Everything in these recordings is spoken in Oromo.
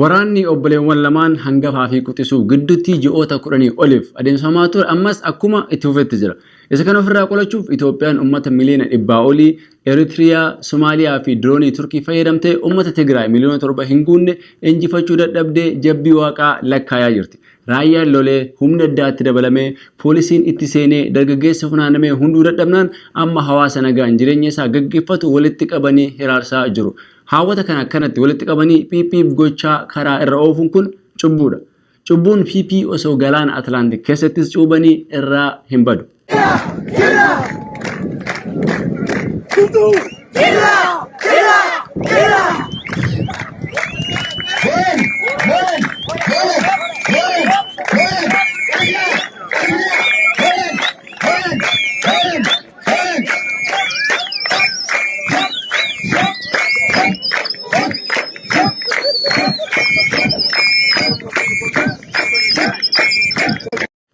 Waraanni obboleewwan lamaan hangafaa fi quxisuu gidduutti ji'oota kudhanii oliif adeemsifamaa ture ammas akkuma itti fufetti jira. Isa kana ofirraa qolachuuf Itoophiyaan uummata miliyoona dhibbaa olii Eritiriyaa, Somaaliyaa fi diroonii Turkii fayyadamtee uummata Tigraay miliyoona torba hin guunne injifachuu dadhabdee jabbii Waaqaa lakkaayaa jirti. Raayyaan lolee, humni addaa itti dabalamee, poolisiin itti seenee, dargaggeessi funaanamee hunduu dadhabnaan amma hawaasa nagaan jireenya isaa gaggeeffatu walitti qabanii hiraarsaa jiru. Haawwata kana akkanatti walitti qabanii piip piip gochaa karaa irra oofuun kun cubbuudha. Cubbuun PP osoo galaana Atlaantik keessattis cuubanii irraa hin badu.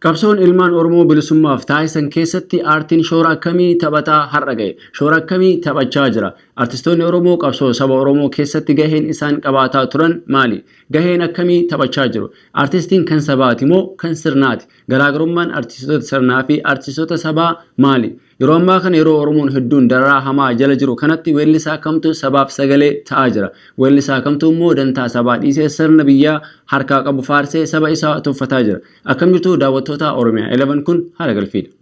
Qabsoon ilmaan Oromoo bilisummaaf taasisan keessatti aartiin shoora akkamii taphataa har'a ga'e? Shoora akkamii taphachaa jira? Artistoonni Oromoo qabsoo saba Oromoo keessatti gaheen isaan qabaataa turan maali? Gaheen akkamii taphachaa jiru? Artistiin kan sabaati moo kan sirnaati? Garaagarummaan artistoota sirnaa fi artistoota sabaa maali? Yeroo ammaa kana yeroo Oromoon hedduun dararaa hamaa jala jiru kanatti weellisaa kamtu sabaaf sagalee ta'aa jira? Weellisaa kamtu immoo dantaa sabaa dhiisee sirna biyyaa harkaa qabu faarsee saba isaa tuffataa jira? Akkam jirtu daawwattootaa Oromiyaa 11 kun haala galfiidha.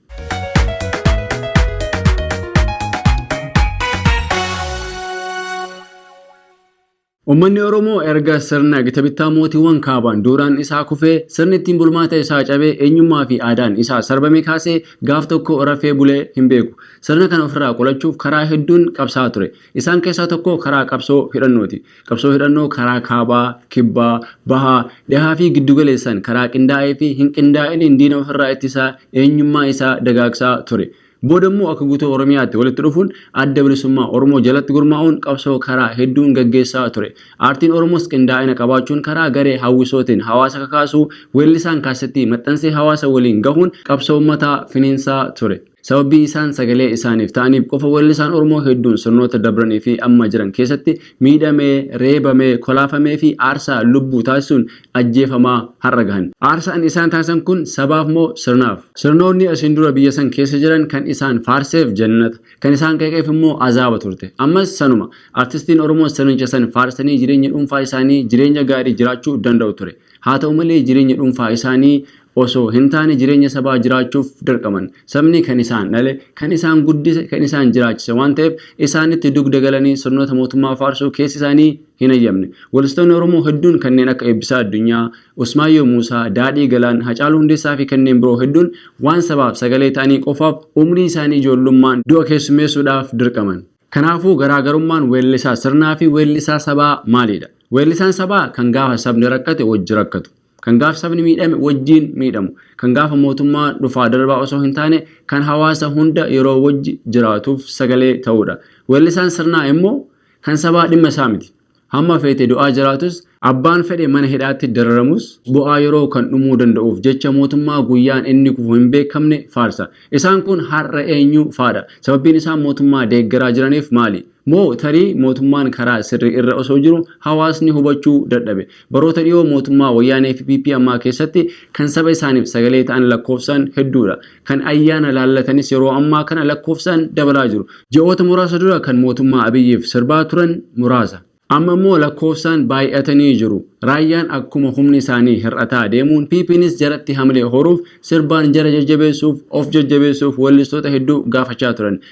Ummanni Oromoo erga sirna gita bittaa mootiiwwan kaabaan duuraan isaa kufee, sirni ittiin bulmaata isaa cabee, eenyummaa fi aadaan isaa sarbamee kaasee gaaf tokko rafee bulee hin beeku. Sirna kana ofirraa qolachuuf karaa hedduun qabsaa'aa ture. Isaan keessaa tokko karaa qabsoo hidhannooti. Qabsoo hidhannoo karaa kaabaa, kibbaa, bahaa, dhihaa fi giddu galeessaan karaa qindaa'ee fi hin qindaa'iniin diina ofirraa ittisaa, eenyummaa isaa dagaagsaa ture. Booda immoo akka guutuu Oromiyaatti walitti dhufuun adda bilisummaa Oromoo jalatti gurmaa'uun qabsoo karaa hedduun gaggeessaa ture. Aartiin Oromoos qindaa'ina qabaachuun karaa garee hawwisootiin hawaasa kakaasuu, weellisaan kaasettii maxxansee hawaasa waliin gahuun qabsoo ummataa finiinsaa ture. Sababii isaan sagalee isaaniif ta'aniif qofa weellisaan Oromoo hedduun sirnoota dabranii fi amma jiran keessatti miidhamee, reebamee, kolaafameefi aarsaa lubbuu taasisuun ajjeefamaa har'a gahan. Aarsaan isaan taasisan kun sabaaf moo sirnaaf? Sirnoonni asiin dura biyya san keessa jiran kan isaan faarseef jannata, kan isaan qeeqeef immoo azaaba turte. Ammas sanuma. Artistiin Oromoos sirnicha san faarsanii jireenya dhuunfaa isaanii jireenya gaarii jiraachuu danda'u ture. Haata'u malee jireenya dhuunfaa isaanii osoo hintaane jireenya sabaa jiraachuuf dirqaman. Sabni kan isaan dhale, kan isaan guddise, kan isaan jiraachise waan ta'eef isaanitti dugda galanii sirnoota mootummaa faarsuu keessi isaanii hinhayyamne. Weellistoonni Oromoo hedduun kanneen akka Eebbisaa Addunyaa, Usmaayyoo Muusaa, Daadhii Galaan, Hacaaluu Hundeessaafi kanneen biroo hedduun waan sabaaf sagalee ta'anii qofaaf umrii isaanii ijoollummaan du'a keessummeessuudhaaf dirqaman. Kanaafuu garaagarummaan weellisaa sirnaafi weellisaa sabaa maalidha? Weellisaan sabaa kan gaafa sabni rakkate wajji rakkatu. Kan gaaf sabni miidhame wajjiin miidhamu, kan gaafa mootummaa dhufaa darbaa osoo hin taane kan hawaasa hunda yeroo wajji jiraatuuf sagalee ta'uudha. Weellisaan sirnaa immoo kan sabaa dhimma isaa miti. Hamma feete du'aa jiraatus, abbaan fedhe mana hidhaatti dararamus bu'aa yeroo kan dhumuu danda'uuf jecha mootummaa guyyaan inni kufu hin beekamne faarsa. Isaan kun har'a eenyu faadha? Sababbiin isaan mootummaa deeggaraa jiraniif maali? Moo tarii mootummaan karaa sirrii irra osoo jiru hawaasni hubachuu dadhabe? Baroota dhiyoo mootummaa Wayyaanee fi PP ammaa keessatti kan saba isaaniif sagalee ta'an lakkoofsaan hedduu dha. Kan ayyaana laallatanis yeroo ammaa kana lakkoofsaan dabalaa jiru. Ji'oota muraasa dura kan mootummaa Abiyyiif sirbaa turan muraasa. Amma immoo lakkoofsaan baay'atanii jiru. Raayyaan akkuma humni isaanii hir'ataa deemuun PPnis jaratti hamilee horuuf sirbaan jara jajjabeessuuf, of jajjabeessuuf weellistoota hedduu gaafachaa turan.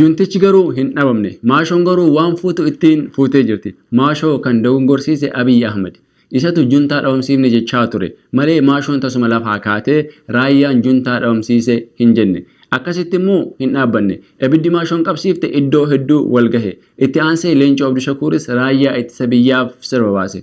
Juntichi garuu hin dhabamne. Maashoon garuu waan fuutu ittiin fuutee jirti. Maashoo kan dogongorsiise Abiy Ahmed. Isatu juntaa dhabamsiifne jechaa ture. Malee Maashoon tasuma lafaa kaatee Raayyaan juntaa dhabamsiise hin jenne. Akkasitti immoo hin dhaabbanne. Ibiddi Maashoon qabsiifte iddoo hedduu wal gahe. Itti aansee Leencoo Abdushakuuris Raayyaa Ittisa Biyyaaf sirba baase.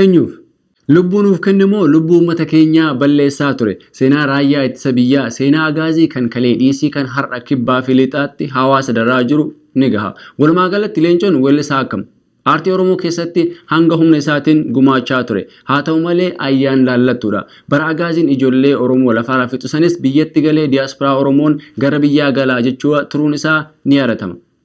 Eenyuuf? Lubbuu nuuf kenne moo lubbuu uummata keenyaa balleessaa ture? Seenaa Raayyaa Ittisa Biyyaa, seenaa Agaazii kan kalee dhiisii kan har'a Kibbaa fi Lixaatti hawaasa dararaa jiru ni gaha. Walumaa galatti Leencoon weellisaa akkam? Aartii Oromoo keessatti hanga humna isaatiin gumaachaa ture. Haa ta'u malee ayyaan laallattuudha. Bara Agaaziin ijollee Oromoo lafaarraa fixu sanis biyyatti galee diaspora Oromoon gara biyyaa gala jechua turuun isaa ni yaadatama.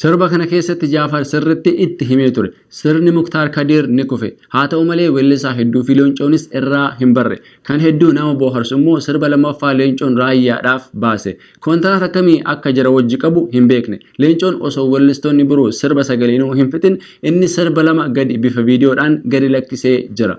Sirba kana keessatti Jaafar sirriitti itti himee ture. Sirni Muktaar Kadiir ni kufe. Haa ta'u malee weellisaa hedduufi Leencoonis irraa hin barre. Kan hedduu nama booharsu immoo sirba lammaffaa Leencoon Raayyaadhaaf baase. Kontiraata akkamii akka jara wajji qabu hin beekne. Leencoon osoo weellistoonni biroo sirba sagaleenu hin fixin inni sirba lama gadi bifa viidiyoodhaan gadi lakkisee jira.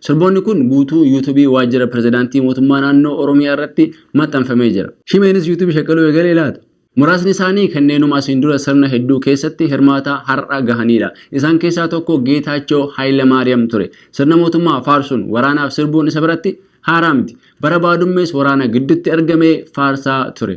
Sirboonni kun guutuu Yuutubii Waajjira Pirezidaantii Mootummaa Naannoo Oromiyaa irratti maxxanfamee jira. Shimeenis Yuutubii shaqaluu eegalee laata? Muraasni isaanii kanneenuma asiin dura sirna hedduu keessatti hirmaataa har'a gahaniidha. Isaan keessaa tokko Geetaachoo Hayilamaariyam ture. Sirna mootummaa faarsuun, waraanaaf sirbuun isa biratti haaraa miti. Bara baadummees waraana giddutti argamee faarsaa ture.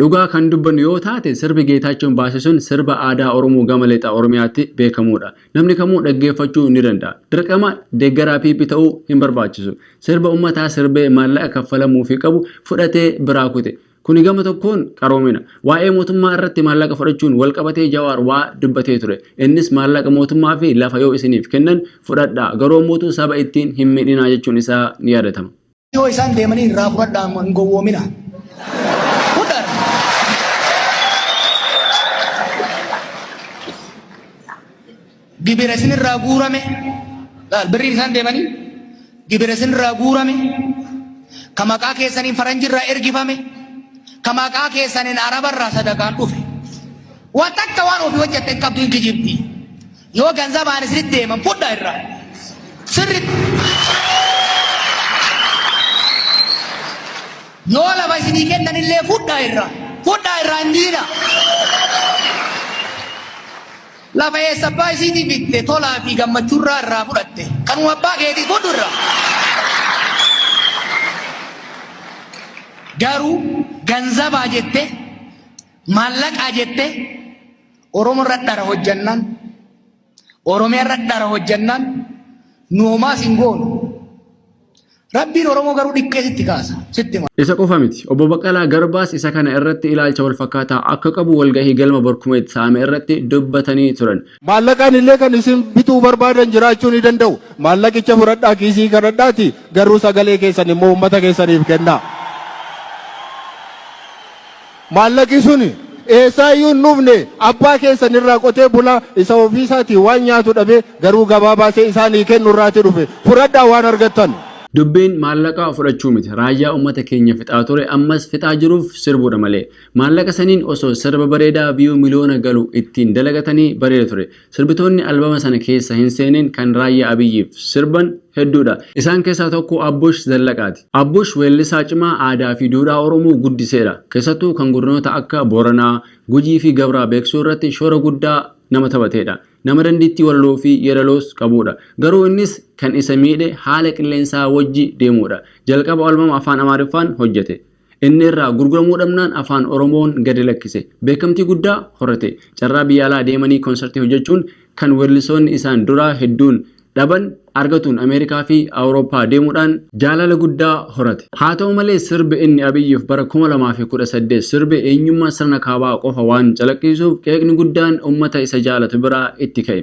Dhugaa kan dubbannu yoo taate sirbi Geetaachoon baase sun sirba aadaa Oromoo gama Lixa Oromiyaatti beekamuudha. Namni kamuu dhaggeeffachuu ni danda'a. Dirqama deeggaraa PP ta'uu hin barbaachisu. Sirba ummataa sirbee maallaqa kaffalamuufii qabu fudhatee biraa kute. Kuni gama tokkoon qaroomina. Waa'ee mootummaa irratti maallaqa fudhachuun wal qabatee Jawaar waa dubbatee ture. Innis maallaqa mootummaa fi lafa yoo isiniif kennan fudhadhaa garuu ammootuu saba ittiin hin miidhinaa jechuun isaa ni yaadatama. yoo isaan deemanii irraa fudhadhaa amma hin gowwoomina. Fudhan. Gibira isinirraa guurame laal birriin isaan deemanii gibira isinirraa guurame ka maqaa keessaniin faranjirraa ergifame ka maqaa keessaniin arabarraa sadaqaan dhufe. Waa takka waan ofii hojjette hin qabdu hin kijibdi. Yoo ganzabaan isinitti deeman fudha irra. Sirri. Yoo lafa isinii kennan illee fudha irra. Fudha irra hin diina. Lafa eessa abbaa isiitii bitte tolaa fi gammachuurraa irraa fudhatte. Kanuma abbaa keetii fudhu irra. Garuu ganzabaa jette maallaqaa jette Oromo irra dhara hojjannaan Oromiyaa irra dhara hojjannaan nu homaas hin goonu. Rabbiin Oromoo garuu dhikkee sitti kaasa. Sitti hima. Isa qofa miti. Obbo Baqqalaa Garbaas isa kana irratti ilaalcha wal fakkaataa akka qabu walgahii galma Barkumeet Saame irratti dubbatanii turan. Maallaqaan illee kan isin bituu barbaadan jiraachuu ni danda'u. Maallaqicha fudhadhaa kiisii kadhadhaati garuu sagalee keessan immoo uummata keessaniif kennaa. Maallaqi sun eessaa iyyuu hin dhufne, abbaa keessan irraa qotee bulaa isa ofii isaatii waan nyaatu dhabee garuu gabaa baasee isaanii kennu irraa ti dhufe. Fudhadhaa waan argattan. Dubbiin maallaqa fudhachuu miti raayyaa ummata keenya fixaa ture ammas fixaa jiruuf sirbuudha malee. Maallaqa saniin osoo sirba bareedaa view miliyoona galu ittiin dalagatanii bareeda ture. Sirbitoonni albama sana keessa hin seenin kan Raayyaa Abiyyiif sirban hedduudha. Isaan keessaa tokko Abbush Zallaqaati. Abbush weellisaa cimaa aadaa fi duudhaa Oromoo guddiseedha. Keessattuu kan godinoota akka Booranaa, Gujii fi Gabraa beeksisuu irratti shoora guddaa nama taphateedha. Nama dandiittii walaloo fi yeedaloos qabuudha. Garuu innis kan isa miidhe haala qilleensaa wajji deemuudha. Jalqaba albama Afaan Amaariffaan hojjete. Inni irraa gurguramuu dhabnaan Afaan Oromoon gadi lakkise. Beekamtii guddaa horate. Carraa biyya alaa deemanii konsartii hojjechuun kan weellisoonni isaan duraa hedduun dhaban argatuun Ameerikaa fi Awurooppaa deemuudhaan jaalala guddaa horate. Haa ta'u malee sirbi inni Abiyyif bara 2018 sirbe eenyummaa sirna kaabaa qofa waan calaqqiisuuf qeeqni guddaan ummata isa jaalatu biraa itti ka'e.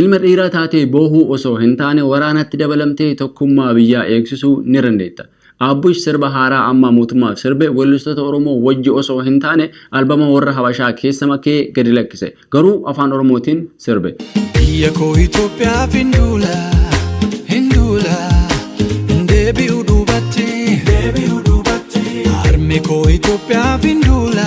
Ilma dhiiraa taatee boohuu osoo hin taane waraanatti dabalamtee tokkummaa biyyaa eegsisuu ni dandeetta. Aabbush sirba haaraa amma mootummaaf sirbe weellistoota Oromoo wajji osoo hin taane albama warra Habashaa keessa makee gadi lakkise. Garuu Afaan Oromootiin sirbe. Biyya koo Itoophiyaaf hin duula, hin duula, hin deebi'u duubatti, hin deebi'u duubatti. Harme koo Itoophiyaaf hin duula,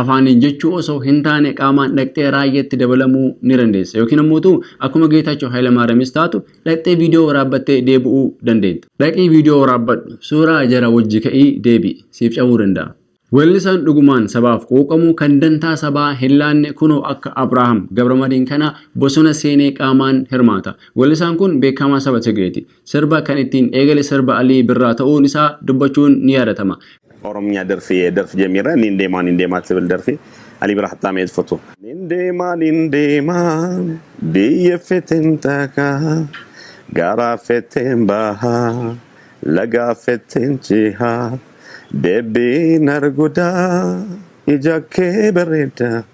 Afaaniin jechuu osoo hintaane qaamaan dhaqxee raayyaatti dabalamuu ni dandeessa. Yookiin ammoo utuu akkuma Geetaachoo Hayilamaariyamis taatu dhaqxee viidiyoo waraabbattee deebi'uu dandeetta. Dhaqii viidiyoo waraabbadhu, suuraa jara wajji ka'ii deebi'i. Siif cabuu danda'a. Weellisaan dhugumaan sabaaf quuqamu, kan dantaa sabaa hinlaanne kunoo akka Abrahaam Gabramadiin kana bosona seenee qaamaan hirmaata. Weellisaan kun beekkaamaa saba Tigreeti. Sirba kan ittiin eegale sirba Alii Birraa ta'uun isaa dubbachuun ni yaadatama. Oromnya derfi derf jemira nin dema nin dema tibil derfi Ali bira hatta meet fotu. Nin deema nin deema biyya feten taaka gaara feten baha laga feten ceha deebiin arguda ija kee bareeda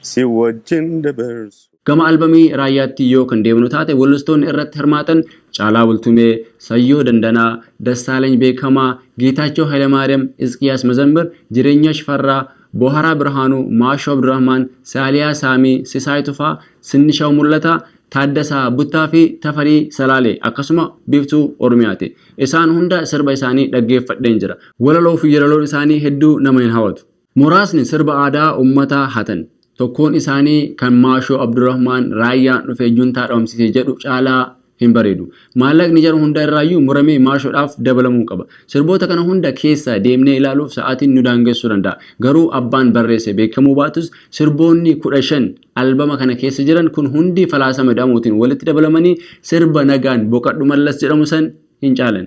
si wajjin dabarsu. Gama albamii Raayyaatti yoo kan deebinu taate wallistoonni irratti hirmaatan Caalaa Bultumee, Sayyoo Dandanaa, Dassaaleny Beekamaa, Geetaachoo Haylamaariyam, Isqiyaas Mazammir, Jireenyaa Shifarraa, Booharaa Birhaanuu, Maashoo Abdurahmaan, Saaliyaa Saamii, Sisaay Tufaa, Sinnishaw Mul'ataa, Taaddasaa Buttaa fi Tafarii Salaalee akkasuma Biiftuu Oromiyaati. Isaan hunda sirba isaanii dhaggeeffadheen jira. Walaloo fi yelaloon isaanii hedduu nama hin hawatu. Muraasni sirba aadaa ummataa hatan. Tokkoon isaanii kan Maashoo Abdurahmaan Raayyaan dhufee Juntaa dhabamsiise jedhu caalaa hin bareedu. Maallaqni jara hunda irraayyuu muramee Maashoodhaaf dabalamuu qaba. Sirboota kana hunda keessa deemnee ilaaluuf sa'aatiin nu daangessuu danda'a. Garuu abbaan barreesse beekamuu baatus sirboonni 15 albama kana keessa jiran kun hundi Falaasama Ida'amuutiin walitti dabalamanii sirba Nagaan Boqadhu Mallas jedhamu san hin caalan.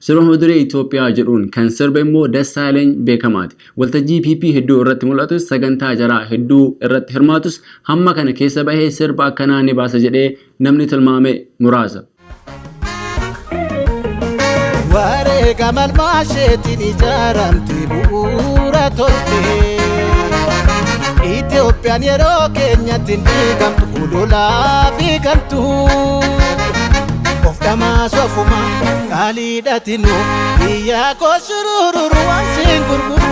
Sirba Muduree Itoophiyaa jedhuun kan sirbe immoo Dassaaleny Beekamaati. Waltajjii PP hedduu irratti mul'atus, sagantaa jaraa hedduu irratti hirmaatus hamma kana keessa bahee sirba akkanaa ni baasa jedhee namni tilmaame muraasa. Wareegama ilmaasheetiin ijaaramte bu'uura tolte. Itoophiyaan yeroo keenyatti hin diigamtu, ololaa fi gantuu. Of dhamaasu ofuma qaaliidhati nu biyyaa koo surururu waan siin gurguru.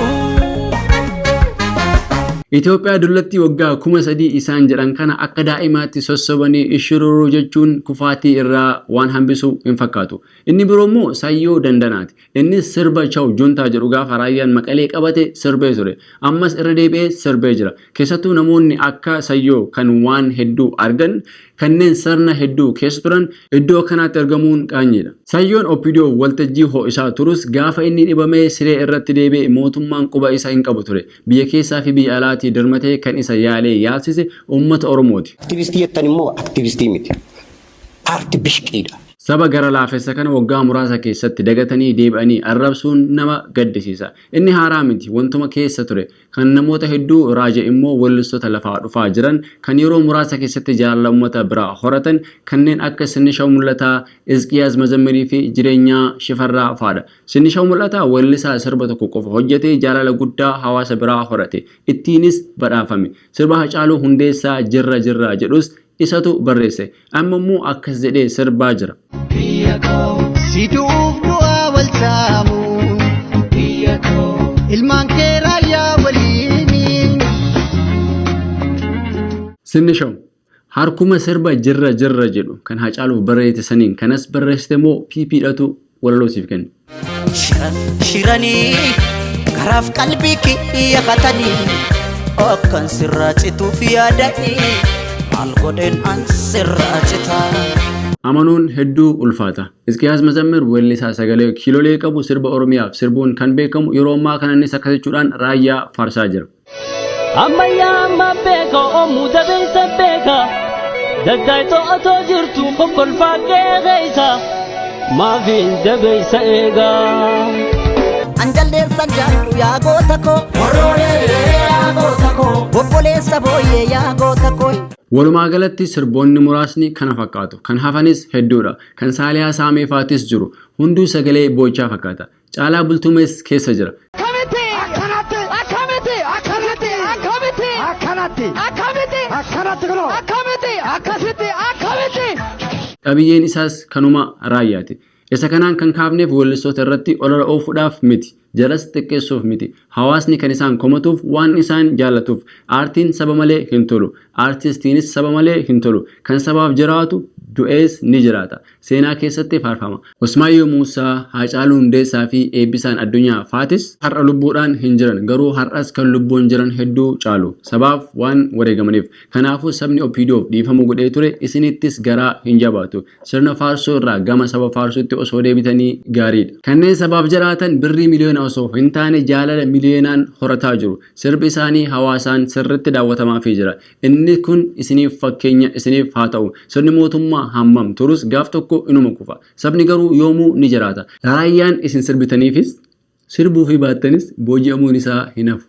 Itoophiyaa dullatti waggaa kuma sadii isaan jedhan kana akka daa'imaatti sossobanii ishururuu jechuun kufaatii irraa waan hambisu hin fakkaatu. Inni biroo immoo Sayyoo Dandanaati. Innis sirba Chaw Juntaa jedhu gaafa raayyaan Maqalee qabate sirbee ture. Ammas irra deebi'ee sirbee jira. Keessattuu namoonni akka Sayyoo kan waan hedduu argan, kanneen sirna hedduu keessa turan iddoo akkanaatti argamuun qaanyiidha. Sayyoon opdo waltajjii ho'isaa turus gaafa inni dhibamee siree irratti deebi'e mootummaan quba isa hin qabu ture. Biyya keessaa fi biyya alaatii dirmatee kan isa yaalee yaalsise uummata Oromooti. Aktivistii jettan immoo aktivistii miti. Paarti bishqiidha. Saba gara laafessa kana waggaa muraasa keessatti dagatanii deebi'anii arrabsuun nama gaddisiisa. Inni haaraa miti, wantuma keessa ture. Kan namoota hedduu raaje immoo weellistoota lafaa dhufaa jiran, kan yeroo muraasa keessatti jaalala ummata biraa horatan kanneen akka Sinnishaw Mul'ataa, Izqiyaas Mazammirii fi Jireenyaa Shifarraa faadha. Sinnishaw Mul'ataa weellisaa sirba tokko qofa hojjetee jaalala guddaa hawaasa biraa horate. Ittiinis badhaafame. Sirba Hacaaluu Hundeessaa Jirra Jirra jedhus Isatu barreesse. Amma immoo akkas jedhee sirbaa jira. Biyya koo. Si du'uuf du'aa wal saamu. Biyya koo. Ilmaan kee raayyaa waliini. Sinnishaw. Harkuma sirba jirra jirra jedhu kan Hacaaluuf barreessite saniin kanas barreessite moo PP dhatu walaloo siif kennu. Shiran shiranii garaaf qalbii kiyya katanii akkan sirraa cituuf yaadanii maal godheen an sirraa citaa. Amanuun hedduu ulfaata. Isqiyaas Mazammir weellisaa sagalee kiilolee qabu sirba Oromiyaaf sirbuun kan beekamu yeroo ammaa kana innis akkas jechuudhaan raayyaa faarsaa jira. Ammayyaa amma beeka omuu dabeessa beeka daggaaytoo otoo jirtu kokkolfaa qeeqeessa maafiin dabeessa eega. An jaldeessan jaallu yaa goota koo. Obboleessa booyyee yaa goota koo. Walumaa galatti sirboonni muraasni kana fakkaatu. Kan hafanis hedduudha. Kan Saaliyaa Saamee faatis jiru. Hunduu sagalee boo'ichaa fakkaata. Caalaa Bultumees keessa jira. Akkamitti? Akkanatti. Akkamitti? Akkanatti. Akkamitti? Akkanatti. Akkamitti? Akkanatti kunoo. Akkamitti? Akkasitti. Akkamitti? Qabiyyeen isaas kanuma raayyaati. Isa kanaan kan kaafneef weellistoota irratti olola oofuudhaaf miti. Jaras xiqqeessuuf miti. Hawaasni kan isaan komatuuf waan isaan jaallatuuf. Aartiin saba malee hin tolu. Aartistiinis saba malee hin tolu. Kan sabaaf jiraatu du'ees ni jiraata. Seenaa keessatti faarfama. Usmaayyoo Muusaa, Haacaaluu Hundeessaa fi Eebbisaan Addunyaa faatis har'a lubbuudhaan hin jiran. Garuu har'as kan lubbuun jiran hedduu caalu. Sabaaf waan wareegamaniif. Kanaafuu sabni OPDOf dhiifama godhee ture isinittis garaa hin jabaatu. Sirna faarsuu irraa gama saba faarsuutti osoo deebitanii gaariidha. Kanneen sabaaf jiraatan birrii miliyoona osoo hin taane jaalala miliyoonaan horataa jiru. Sirbi isaanii hawaasaan sirriitti daawwatamaafii jira. Inni kun isiniif fakkeenya isiniif haa ta'u. Sirni mootummaa hammam turus gaaf tokko inuma kufa. Sabni garuu yoomuu ni jiraata. Raayyaan isin sirbitaniifis, sirbuufii baattanis booji'amuun isaa hin hafu.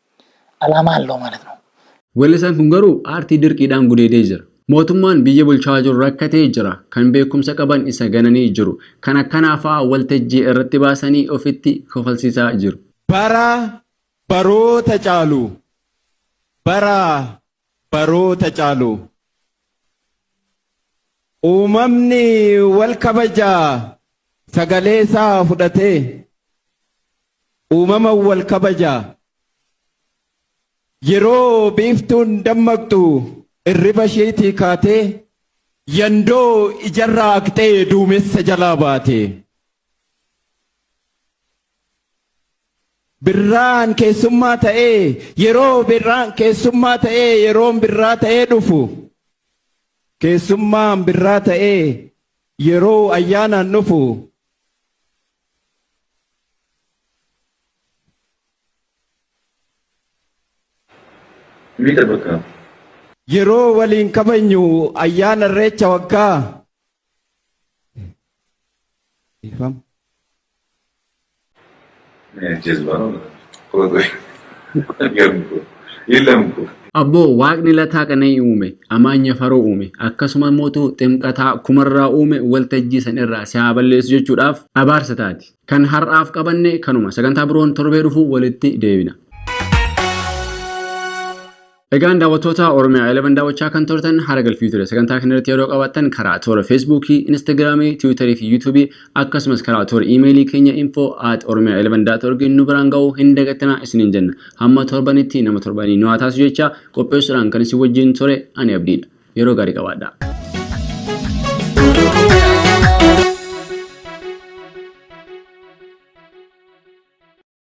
Alaamaa halloo ማለት ነው። Weellisaan kun garuu aartii dirqiidhaan gudeedee jira. Mootummaan biyya bulchaa jiru rakkatee jira. Kan beekumsa qaban isa gananii jiru. Kan akkanaa fa'a waltajjii irratti baasanii ofitti kofalsiisaa jiru. Bara baroota caalu, bara baroota caalu uumamni wal kabaja sagalee isaa fudhatee uumama wal kabaja yeroo biiftuun dammaqxu irriba isheetii kaatee yandoo ijarraa haqxee duumessa jalaa baate. Birraan keessummaa ta'ee yeroo birraan keessummaa ta'ee yeroon birraa ta'ee dhufu keessummaan birraa ta'ee yeroo ayyaanaan dhufu Mita bakka. yeroo waliin kabajnu ayyaana irreecha waggaa Ifam. Abboo waaqni lataa qana'ii uume, amaanya faroo uume, akkasuma mootu ximqataa kumarraa uume waltajjii san irraa si haa balleessu jechuudhaaf abaarsa taati. Kan har'aaf qabanne kanuma. Sagantaa biroon torbee dhufu walitti deebina. Egaan daawwattoota Oromiyaa 11 daawwachaa kan turtan haala galfii ture. Sagantaa kana irratti yeroo qabaattan karaa toora Feesbuukii, Instagiraamii, Tiwiitarii fi Yuutuubii akkasumas karaa toora iimeelii keenya info at oromia 11.org nu biraan ga'uu hin dagatina isiniin jenna. Hamma torbanitti nama torbanii nu haa taasisu jecha qopheessuudhaan kan isin wajjin ture ani abdiidha. Yeroo gaarii qabaadhaa.